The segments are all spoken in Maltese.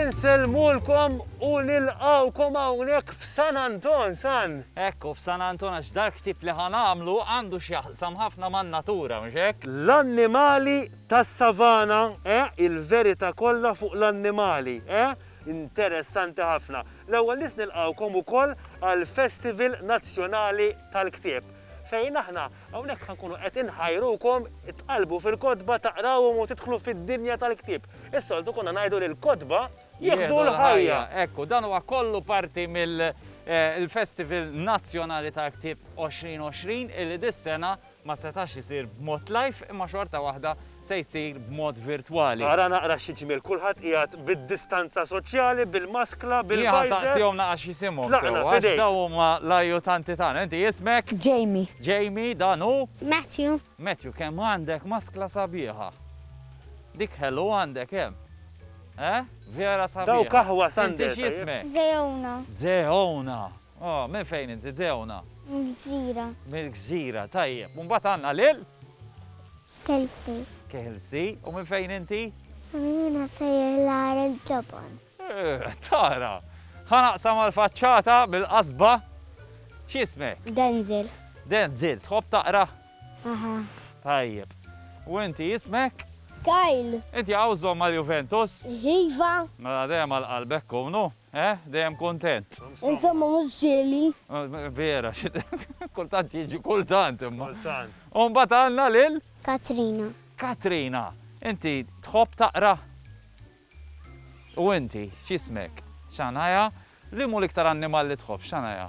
Insellmulkom u nilqawkom hawnhekk f'San Anton, San. Ekku, f'San Anton għax dal-ktieb li ħanamlu għandu x'jaqsam ħafna man-natura, mhux hekk? L-annimali tas-savana, eh, il-verità kollha fuq l-annimali, eh? Interessanti ħafna. L-ewwel nies nilqgħukom ukoll għall-Festival Nazzjonali tal-Ktieb fejn aħna hawnhekk ħa nkunu qed inħajrukom tqallbu fil-kotba, taqrawhom u tidħlu fid-dinja tal-ktieb. Is-soltu konna ngħidu li l-kotba jieħdu l-ħajja. Hekk hu, dan huwa kollu parti mill-Festival Nazzjonali tal-Ktieb 2020 illi dis-sena, ma setax isir b'mod live imma xorta waħda se jsir b'mod virtwali. Ara naqra xi ġmiel kulħadd qiegħed bid-distanza soċjali, bil-maskla, bil-visor. Nieħa saqsihom naqra x'isimhom sewwa. Tlaqna f'idejk. Għax dawn huma l-ajutanti tagħna. Inti ismek? Jamie. Jamie, dan hu? Matthew. Matthew, kemm għandek maskla sabiħa. Dik ħelu għandek hemm. Eh? Vera sabiħa. Dawk aħwas għandek. Inti x'jismek? Zeona. Zeona. Oh, minn fejn inti, Dewna? Mill-Gżira. Mill-Gżira, tajjeb. U mbagħad għandna lil? Kelsey. Kelsey, u minn fejn inti? Jiena sejjer l-għar il-ġobon. Eh, tara, ħa naqsam għal-faċċata bil-qasba. X'ismek? Denzel. Denzel, tħobb taqra? Aha. Tajjeb. U inti ismek? Kyle. Inti għawżhom mal-Juventus? Iva. Mela dejjem għal-qalbek, kunu? Eh? Dejjem kuntent. Insomma mhux ġieli. Vera, kultant jiġi kultant imma. Kultant. U mbagħad għandna lil? Katrina. Katrina, inti tħobb taqra? U inti x'ismek? Shania. Liemu l-iktar annimal li tħobb, Shania?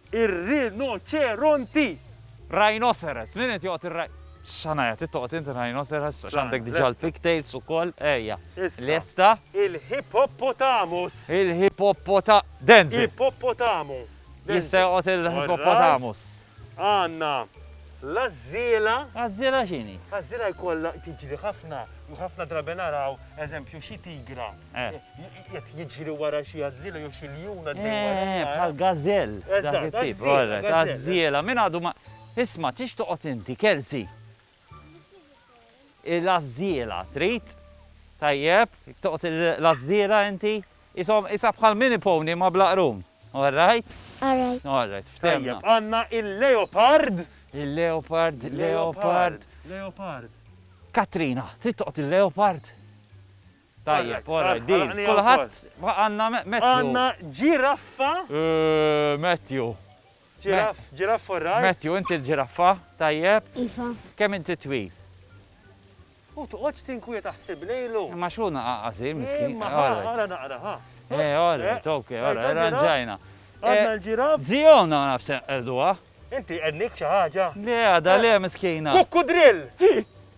Ir-rinoċeronti! Rhinoceros, min qed joqgħod ir-rhi. Shania, trid toqgħod int ir-rhinoceros għax għandek diġà l-pigtails ukoll, ejja. Issa. Lesta? Il-hippopotamus! Il-hipoppota. Denzel! Ipoppotamu. Jista' joqgħod il-hippopotamus. Għandna l-għażżiela. Għażżiela x'inhi? Għażżiela jkollha tiġri ħafna u ħafna drabi naraw, eżempju, xi tigra. Qed jiġri wara xi għażżiela jew xi ljun għaddej warajh. Eh, bħal gazell. Eżatt, għażżiela. Għażżiela, min għadu ma. Isma', tridx toqgħod inti, Kelsey? Il-għażżiela trid? Tajjeb, toqgħod l-għażżiela inti? Qishom, qisha bħal mini pony ma' blaqrun. All right? All right. All right, ftehimna. Tajjeb, għandna il-leopard. Il-leopard, leopard. Leopard. Katrina, trid toqgħod il-leopard? Tajjeb, alright, deal. Kulħadd, għandna Matthew. Għandna ġiraffa. Matthew. Ġiraff, ġiraff alright. Matthew, inti l-ġiraffa, tajjeb. Iva. Kemm inti twil? U toqgħodx tinkwieta ħsib lejlu. Imma x'hu naqa' qasir miskin. Imma ħa, ara naqra ħa. Eh, alright, ok, alright, irranġajna. Għandna l-ġiraff. Ziona naf se nqerduha. Inti qednik xi ħaġa? Le għadha le miskina. Kukkudrill!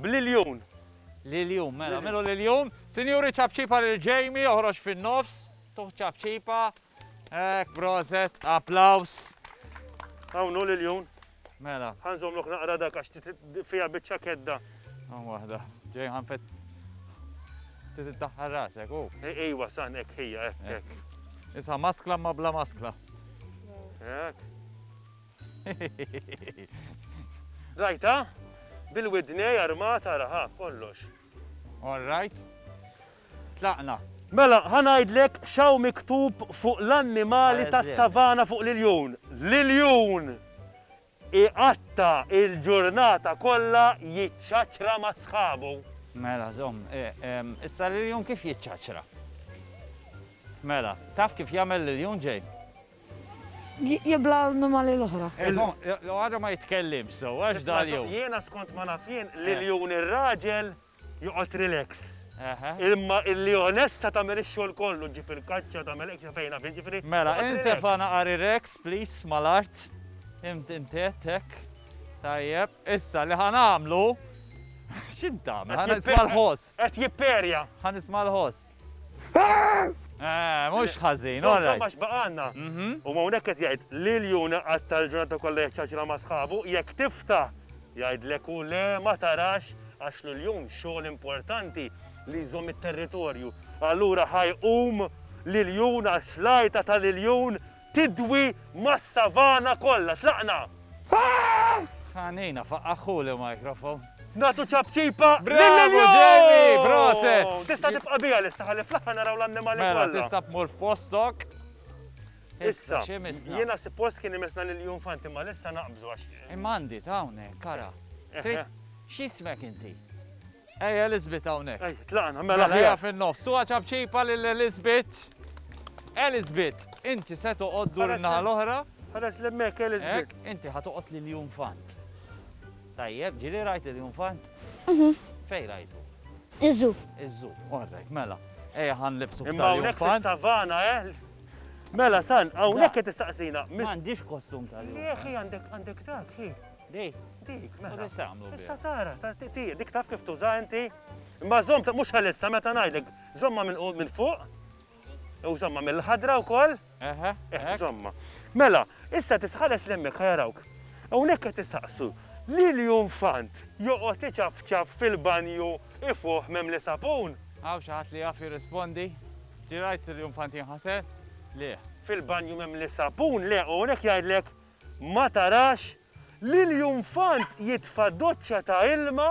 Bl-iljun. L-iljun, mela, agħmilu l-iljun. Sinjuri, ċapċipa lil Jamie, oħroġ fin-nofs. Tuh ċapċipa. Hekk, proset, applaws. Hawn hu l-iljun. Mela. Ħa nżommlok naqra dak għax fiha biċċa kedda. Hawn waħda. Ġej ħanfet. Trid iddaħħal rasek, hu. Ejwa, san hekk ħija, hekk. Issa maskla ma bla maskla. Hekk. Rajtha? Bil-widnejn armata araha kollox. All right. Tlaqna. Mela, ħa ngħidlek x'hawn miktub fuq l-annimali tas-savana fuq l-iljun. L-iljun iqatta' il-ġurnata kollha jiċċaċċra ma' sħabu. Mela, żomm. Issa l-iljun kif jiċċaċċra? Mela, taf kif jagħmel l-iljun, Jane? jibla' l-annimali l-oħra. Eżatt. Għadu ma jitkellimx sew, għax da l-jum. Jiena skont ma naf jien, l-iljun ir-raġel joqgħod relax. Imma l-ljonessa tagħmel ix-xogħol kollu, ġġib il-kaċċa, tagħmel hekk sa fejn naf jien, ġifieri. Mela, intefa' naqar ir-rex, please, mal-art. Intiet, hekk. Tajjeb. Issa, li ħa nagħmlu, x'int tagħmel? Ħa nisma' l-ħoss. Qed jipperja. Ħa nisma' l-ħoss. Eh, mhux ħażin, all right. Għax baqanna. Mhm. U ma hawnhekk qed jgħid li l-juna qatta l-ġurnata kollha jaċċaċla ma' sħabu, jekk tifta jgħidlek u le ma tarax għax l-jum xogħol importanti li jżomm it-territorju. Allura ħajqum l-jun għax lajta tal-jun Tidwi mas-savana kollha. Tlaqna! Ħanina, faqqagħhu l-microphone. Nagħtu ċapċipa lill-ilju! Bravo Jamie! Proset! Tista' tibqa' biha lista ħalli fl-aħħar naraw l-annimali kollha. Mela, tista' tmur f'postok. Issa, x'imissna? Jiena suppost kien imissna lill-junfant imma lissa naqbżu għax. Imma għandi ta' hawnhekk, ara. Trid x'ismek inti? Ejja Elizabeth hawnhekk. Ejja, tlaqna, mela aħjar. Mela, fin-nofs. Tuha ċapċipa lil Elizabeth. Elizabeth, inti se toqgħod dur in-naħa l-oħra. Ħares li hemmhekk Elizabeth. Inti ħa toqgħod lil Junfant. Tajjeb, ġieli rajt lil Junfant? Mhm. Fejn rajtu? Iżu. Iżu, orrek, mela. Ejja ħan libsu b'tal Imma hawnhekk fis-savana, eh? Mela, san, hawnhekk qed tistaqsina. M'għandix kostum tal-jum. Jieħi għandek għandek dak, Di? Dik, mela. Dik se għamlu. Issa tara, dik taf kif tuża inti. Imma zom, mux għalissa, meta najdek, zomma minn fuq, u zomma mill-ħadra u koll. Eħe, eh, zomma. Mela, issa tisħares l-emmek ħajarawk. Unek għet tisaqsu, li li fant joqot iċafċaf fil-banju ifuħ mem li sapun. Għaw xaħat li għaf jirrispondi, ġirajt li jumfant jinħasel, li. Fil-banju mem li sapun, li unek jgħidlek Ma tarax li l-junfant jitfa' doċċa ta' ilma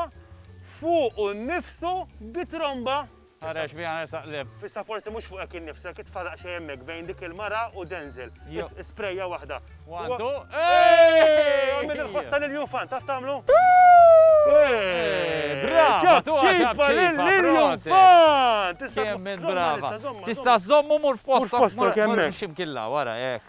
fuqu nnifsu bi tromba? Ħareġ biha nersaq qlib. Issa forsi mhux fuqek innifsek, itfa' daqsxejn hemmhekk bejn dik il-mara u Denzel. Isprejja waħda. One, two, eehh! Għamel il-ħoss ta' lill-junfant, taf tagħmlu? Eehh! Brava! Tugħha ċapċipa lill-junfant! Kemm int brava! Tista' żżommu mur f'postok, mur x'imkien 'l hawn, ara hekk.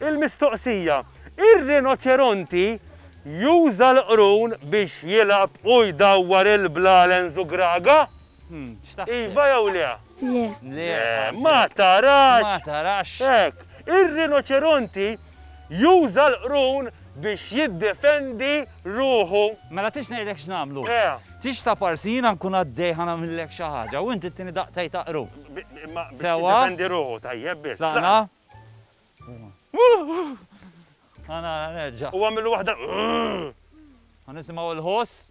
Il-mistoqsija, Ir-rinoċeronti juża l-qrun biex jilgħab u jdawwar il-blalens u graga? Iva jew le? Le. Ma tarax! Hekk. Ir-rinoċeronti juża l-qrun biex jiddefendi ruħu. Mela tridx ngħidlek x'nagħmlu? Le. Tridx taparsi jiena nkun għaddej ħa nagħmillek xi ħaġa u int ittini daqtej ta' qrub. Imma biex jiddefendi ruħu tajjeb biss. Tlaqna. Ħa nara nerġa'. U għamillu waħda. Ħa nisimgħu l-ħoss.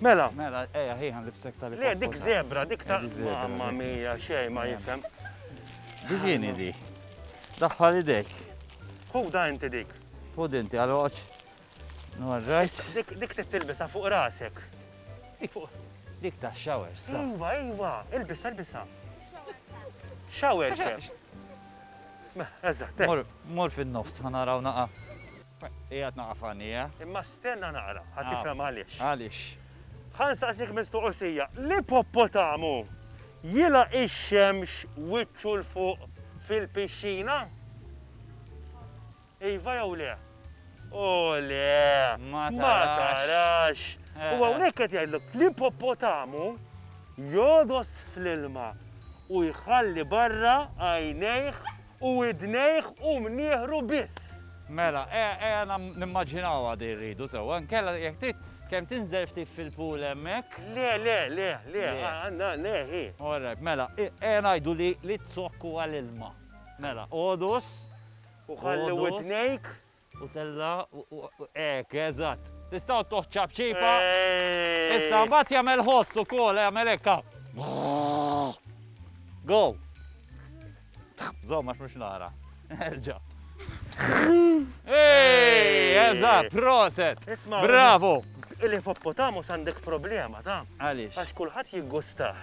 Mela. Mela, eja, hi għan libsek tal Le, dik zebra, dik ta' mamma mija, xej ma jifem. Divini di. Daħħal idek. Hu da inti dik. Hu dinti għal oċ. Norrajt. Dik t-tilbisa fuq rasek. Dik ta' showers. Iva, iva, ilbisa, ilbisa. Shower kif. Eżat. Mor fin-nofs, ħanaraw naqa. Qiegħed naqra f'għajnejja. Imma stenna naqra, ħa tifhem għaliex. Għaliex? Ħa nsaqsik mistoqsija, l-ipoppotamu jilgħaq ix-xemx wiċċu 'l fuq fil-pixxina? Iva jew le? O le! Ma tarax! U hawnhekk qed jgħidlok, l-ipoppotamu jogħdos fl-ilma u jħalli barra għajnejh U widnejh u mnieħru biss. Mela, ejja nimmaġinawha din rridu sewwa. Inkella jekk trid kemm tinżel ftit fil-pool hemmhekk. Le, le, le, le, għandna le hi. All right, mela, ejja ngħidu li t-zokk huwa l-ilma. Mela, għodus. U ħalli widnejk. U tella' u hekk, eżatt. Tista' ttuħ ċapċipa. Issa, mbagħad jagħmel ħoss ukoll, jagħmel hekk, ha. Go! Żomm għax mhux nara. Erġa'. Ej, eżatt, proset! Bravo! Il-ippoppotamus għandek problema, taf? Għaliex? Għax kulħadd jiggustah.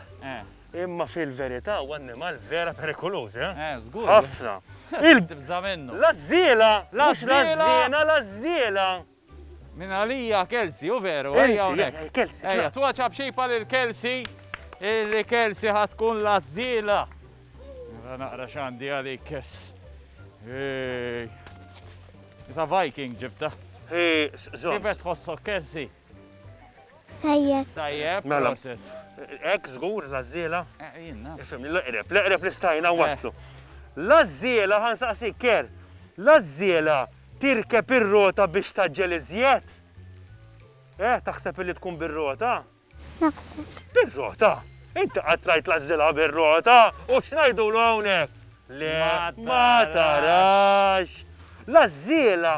Imma fil-verità hu annimal vera perikoluż, eh? Eh, żgur. Ħafna. Il. Tibża' minnu. L-għażżiela! Mhux l-għażżiena, l-għażżiela! Minn għalija Kelsey, hu veru, ejja hawnhekk. Inti, Kelsey. Ejja, twaċċa b'xejpa lil Kelsey, illi Kelsey ħa tkun l-għażżiela. Ara naqra x'għandi għalik, Kelsey. Ej. Isa Viking ġibtha. Hi, żomm. Kif qed tħossok, Kelsey? Tajjeb. Tajjeb, mela. Ek, zgur, lazzila. Ejjinna. Eh, Fimni, l-eqreb, l-eqreb li stajna eh. waslu. Lazzila, għan saqsi ker, lazzila tirkeb ir-rota biex taġġel iżjed? Eh, taħseb li tkun bir-rota? Naħseb. Bir-rota? Inti għatlajt lazzila bir-rota u xnajdu l-għonek? Le, ma tarax. Lazzila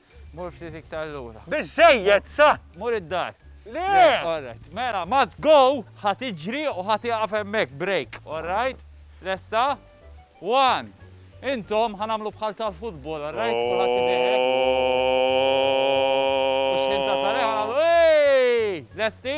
Mur ftit iktar lura. Biżżejjed sa! Mur id-dar. Le! All right. Mela, ma tgo, ħa tiġri u ħa tieqaf hemmhekk, break. All right? Lesta? One. Intom ħa nagħmlu bħal tal-futbol, all right? Kulħadd idehek. U xħin tasal, ħa nagħmlu, Ej! Lesti?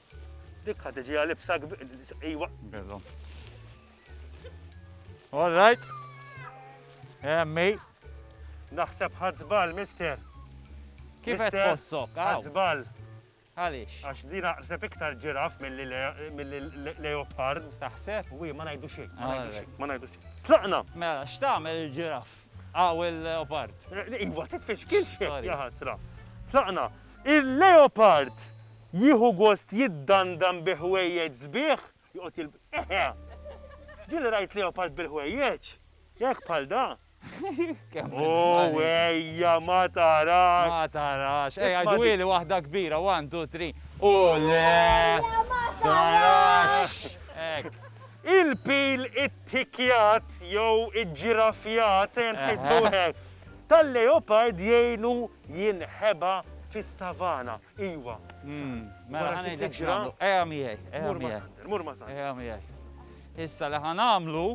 Dik ħad iġiha libsa iwa. Bello. All right. Emmi. Naħseb ħadżbal, mister. Kif qed tħossok? Ħadżbal. Għaliex? Għax din aqseb iktar ġiraf mill-leopard. Taħseb? Wi, ma ngħidu xejn. Ma ngħidu xejn. Tlaqna! Mela, x'tagħmel il-ġiraf? Għaw il-leopard. Eh, iva, titfix kien xejn. Tlaqna. Il-leopard jieħu gost jiddandan bi ħwejjeġ sbieħ, joqgħod jilb. Eħe! Ġieli rajt leopard bil-ħwejjeġ hekk bħal da. Ooh ejja ma tarax! Ma tarax! Ejja dwieli waħda kbira, one, two, three. Ooh le! Ejja ma tarax! Hekk. Il-pil ittikkjat jew iġġiraffjat, ngħidlu hekk. tal-leopard jgħinu jinħeba fis-savana. Iwa, Sal, wara xi siġra. Ejja miegħi, ejja miegħi. Mur ma' Sander, mur ma' Sander. Ejja miegħi. Issa li ħa nagħmlu,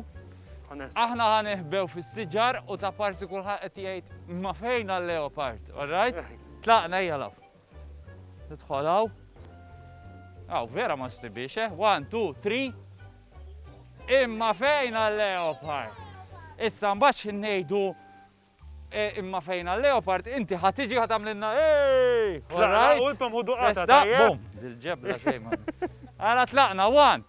aħna ħa neħbew fis-siġar u ta' parsi kulħadd qed jgħid, imma fejn għal-leopard, all right? Tlaqna, ejja l-hawn. Nidħol hawn. Aw, vera ma stibiex, eh? One, two, three. Imma fejn għal-leopard? Issa mbaċ ngħidu e, imma fejn għal-leopard, inti ħatiġi ħatamlinna, ej! All right? Issa, bum, dil-ġebla xejma. Għala tlaqna, one,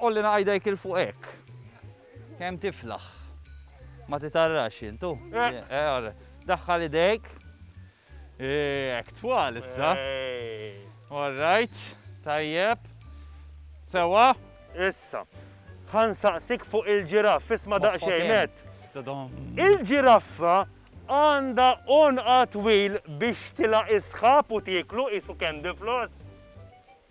Għolli naqaj dejk 'il fuq hekk. Kemm tiflaħ. Ma titarrax int hu. Daħħal idejk. Hekk twal issa. All right. Tajjeb. Sewwa. Issa. Ħa nsaqsik fuq il-ġiraff, isma' daqsxejn nett. Il-ġiraffa għandha għonqha twil biex tilgħaq is-sħab u tieklu qisu candy floss?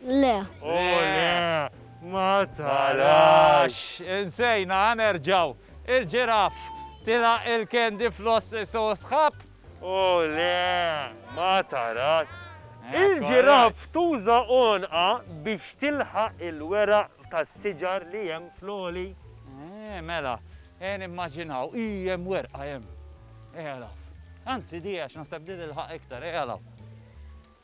Le. O le, ma tarax! Insejna, ha nerġgħu. Il-ġiraff tila' il-candy floss so sħab? O le, ma tarax! Il-ġiraff tuża għonqha biex tilħaq il-weraq tas-siġar li hemm fl-għoli? Eh, mela, eh nimmaġinaw, ih hemm werqa hemm. Ejja law. Anzi, di għax naħseb di tilħaq iktar, ejja law.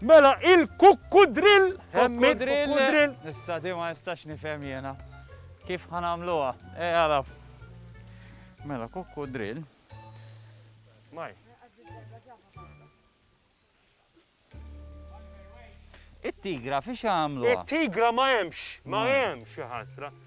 Mela il-kukkudrill hemm il-kukkudrill. Issa di ma nistax nifhem jiena. Kif ħa nagħmluha? Ej għaraf. Mela kukkudrill. Maj. It-tigra fiex għamlu? It-tigra ma hemmx, ma hemmx xi ħasra.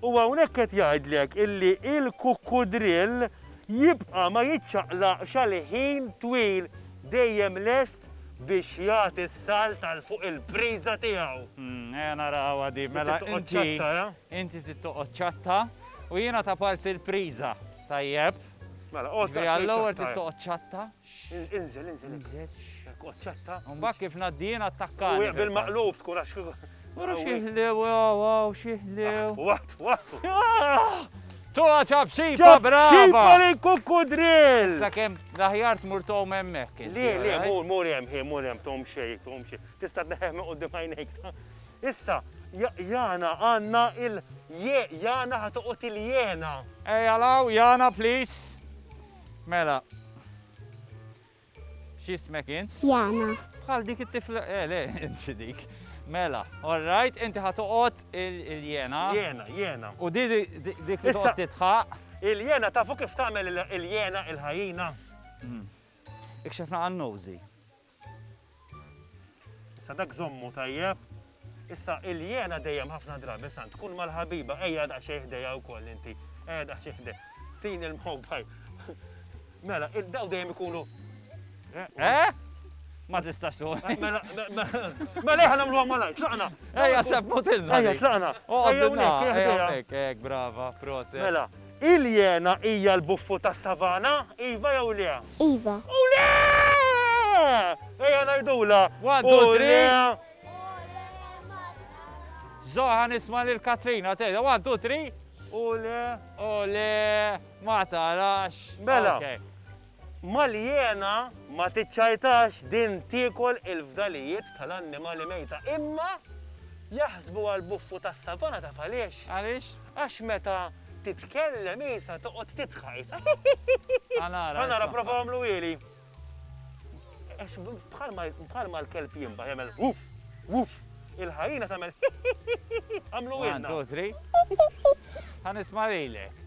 U hawnhekk qed jgħidlek illi l-kukkudrill jibqa' ma jiċċaqlaqx għal ħin twil, dejjem lest biex jagħti s-salt għal fuq il-priża tiegħu. Hm, ejja narawha din. Mela inti, inti trid toqgħod ċatta u jiena ta' parsi l-priża. Tajjeb. Mela, oqgħod. Ġifieri għall-ewwel trid toqgħod ċatta. Inżel, inżel. Inżel. Koċċetta. Mbagħad kif ngħaddi jien attakkani. U jaqbel maqlub tkun għax kieku. Ura xieħlew, għaw, xieħlew. Waqt, waqt. Tuħa ċabċipa, brava! ċabċipa li kukkudril! Issa kem daħjar tmur tom emmek. Li, li, mur, mur jem, hi, mur jem, tom xej, tom xej. Tista t-neħem u d-dimajnek. Issa, jana għanna il-jana ħatuqot il-jena. Ej, għalaw, jana, please. Mela. X'ismek int? Jana. Bħal dik it-tifla, eh, le, inti dik. Mela, all right, inti ħatoqgħod il-jena. Jena, jena. U di dik li toqgħod titħaq. Il-jena tafu kif tagħmel il-jena il-ħajina. Hmm. Ikxefna għan-nowżi. Issa dak żommu tajjeb. Issa il-jena dejjem ħafna drabi san tkun mal-ħabiba ejja daqsxejn ħdejha wkoll inti. Ejja daqsxejn ħdej. Tin il-mħobbaj. Mela, daw dejjem ikunu. Eh? eh? Ma tistax tu. Eh, mela, mela ħana mlu għamalaj, tlaqna. Ejja, seb motilna. Ejja, tlaqna. Ejja, nek, ejja, brava, proset. Mela, Il-jena hija l-buffu tas-savana, iva jew le? Iva. U le! Ejja ngħidulha, u le! Żgħar ħa nisma' lil Katrina tgħidha, one, two, three! U le! U le! Ma tarax! Mela. Mal-ijena ma tiċċajtax din tiekol il-fdalijiet tal-annimali mejta imma jaħsbuha l-buffu tas-savana taf għaliex? Għaliex? Għax meta titkellem qisha toqgħod tidħaq qisha hihihihi. Ħa nara. Ħa nara prova għamlu ili. Bħalma l-kelb jinbaħ jagħmel wuf wuf il-ħajjina tagħmel hihihihi. Għamlu ilna. Għan tu tri. Ħa nisma' lilek.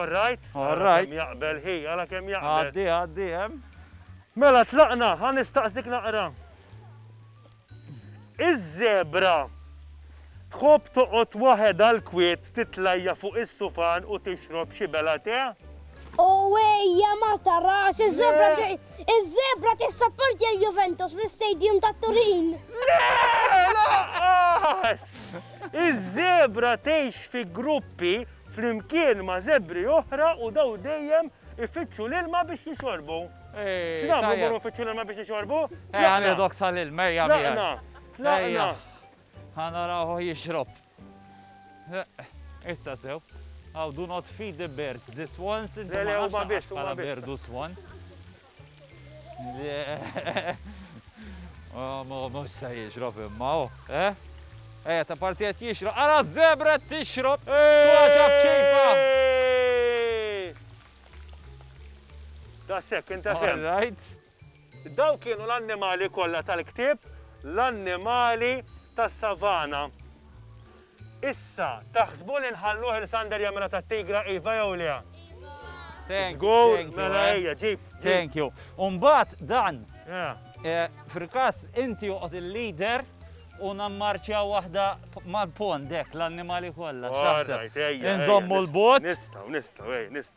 All right? All right. Jaqbel, hi, għala kem jaqbel. Għaddi, għaddi, jem. Mela, tlaqna, għan istaqsik naqra. Iż-zebra tħobb toqgħod waħed għal kwiet titlajja fuq is-sufan u tixrob xi bela te? U ejja ma tarax, iż-żebra iż-żebra tissapportja l-Juventus fl-istadium ta' Turin. Iż-żebra tgħix fi gruppi flimkien ma' żebri oħra u daw dejjem ifittxu l-ilma biex jixorbu. X'nagħmlu mmorru nfittxu l-ilma biex nixorbu? Ejja nieħdok sal-ilma ejja miegħi. Tlaqna. Ejja. Ħa narawh jixrob. Issa sew. Aw, do not feed the birds, the swans, inti ma nafx bħala birdu swan. Oh, ma mux sa jixrob imma, oh, eh? Eh, ta' parsi għet jixrob, għara zebra tixrob, tuħaċa bċipa! Ta' sekk, inta' sekk. Dawn kienu l-annimali kollha tal-ktieb, l-annimali tas-savana. Issa, taħsbu li nħalluh il-Sander jagħmilha tat-tigra, iva jew le? Iva. Żgur, mela ejja, ġib. Thank you. U mbagħad dan, fil-każ inti joqgħod il-leader u nammarċjaw waħda mal-pond hekk l-annimali kollha. X'taħseb? Inżommu l-bogħod? Nistgħu, nistgħu, ej, nistgħu.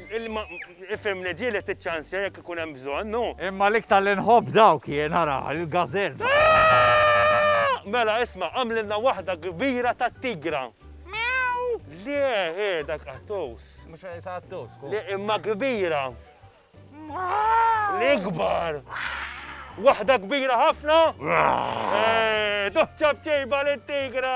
Imma ifhem li ġieli tiċċansja jekk ikun hemm bżonn, hu. Imma l-iktar li nħobb dawk jien, ara, il-gazelles. Mela isma', għamlilna waħda kbira tat-tigra. Le, hi, dak qattus. Mhux qed qattus, hu. Le, imma kbira. L-ikbar. Waħda kbira ħafna? Eeh, doċċa b'ċejba lit-tigra!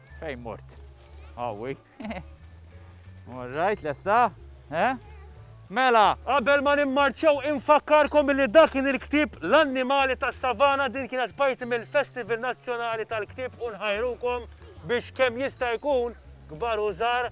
Fejn mort? Awi. Alright, lesta? Eh? Mela! Qabel ma nimmarċaw infakkarkom billi dak kien il-ktieb L-Annimali tas-Savana din kienet parti mill-Festival Nazzjonali tal-Ktieb u nħajrukom biex kemm jista' jkun kbar u żgħar